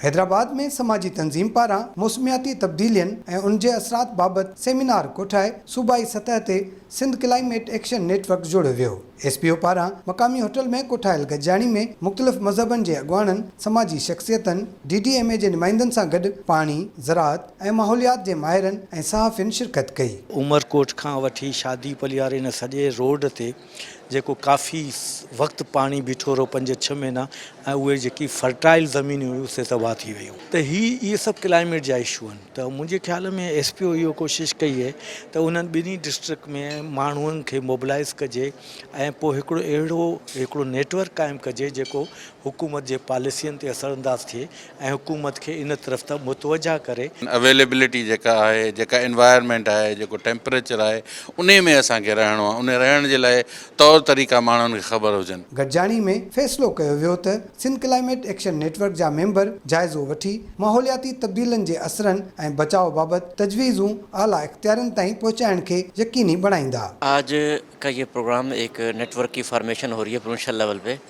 حيدرآباد ۾ سماجي تنظيم پاران موسمياتي تبديلين ۽ ان جي اثرات بابت سيمينار ڪوٺائي صوبائي سطح تي Sindh climate action network جوڙيو ويو. ايس پي او پاران مقامي هوٽل ۾ ڪوٺايل گڏجاڻي ۾ مختلف مذهبن جي اڳواڻن، سماجي شخصيتن، ڊي ڊي ايم اي جي نمائندن سان گڏ پاڻي، زراعت ۽ ماحوليات جي ماهرن ۽ صحافين شرڪت ڪئي. عمرڪوٽ کان وٺي شادي پلياري نه سڄي روڊ تي جيڪو ڪافي وقت پاڻي بيٺو رهيو پنج ڇهه مهينا ۽ اهي جيڪي فرٽائل زمينون هيون سي تباهه ٿي ويون ته هي اهي سڀ ڪلائميٽ جا اشو آهن ته منهنجي خيال ۾ ايس پي او اهو ڪوشش ڪئي اهي ته انهن ٻنهي ڊسٽرڪٽ ۾ ماڻهن کي موبلائز ڪجي ۽ پوء هڪڙو اهڙو هڪڙو نيٽورڪ قائم ڪجي جيڪو حڪومت جي پاليسين تي اثرانداز ٿئي ۽ حڪومت کي ان طرف ته متوجهه ڪري. اويليبلٽي جيڪا آهي، جيڪا انوائرمينٽ آهي، جيڪو ٽيمپريچر آهي، انهي ۾ اسان کي رهڻو آهي، انهي رهڻ جي لاء طور طريقا ماڻهن کي خبر هجن. گڏجاڻي ۾ فيصلو ڪيو ويو ته Sindh climate action network جا ميمبر جائزو وٺي ماحولياتي تبديلن جي اثرن ۽ بچاء بابت تجويزون اعليٰ اختيارين تائين پهچائڻ کي يقيني بڻائيندا. آج ڪا يه پروگرام ايڪ نيٽ ورڪ ڪي فارميشن هو رهي هي پروونشل ليول پي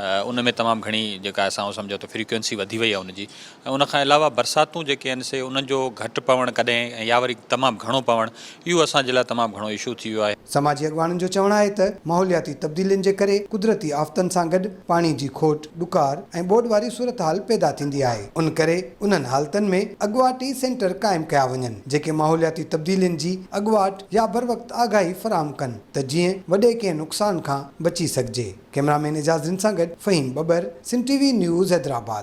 ان ۾ تمام گهڻي جيڪا اسان اهو سمجهون ته فريڪوئنسي وڌي وئي آهي ان جي ۽ ان کان علاوه برساتون جيڪي آهن سي انهن جو گهٽ پوڻ ڪڏهن ۽ يا وري تمام گهڻو پوڻ اهو اسان جي لاء تمام گهڻو اشو ٿي ويو آهي. سماجي اڳواڻن جو چوڻ آهي ته ماحولياتي تبديلين جي ڪري قدرتي آفتن سان گڏ پاڻي جي کوٽ، ڏڪار ۽ ٻوڏ واري صورتحال پيدا ٿيندي آهي ان ڪري انهن حالتن ۾ اڳواٽي سينٽر قائم ڪيا وڃن جيڪي ماحولياتي تبديلين جي اڳواٽ يا بروقت آگاهي فراهم ڪن. ته جيئن وڏي ڪنهن نقصان کان بچي سگهجي. ڪئميرا مين اعجاز رند سان گڏ Faheem Babar, Sindh T V news Hyderabad.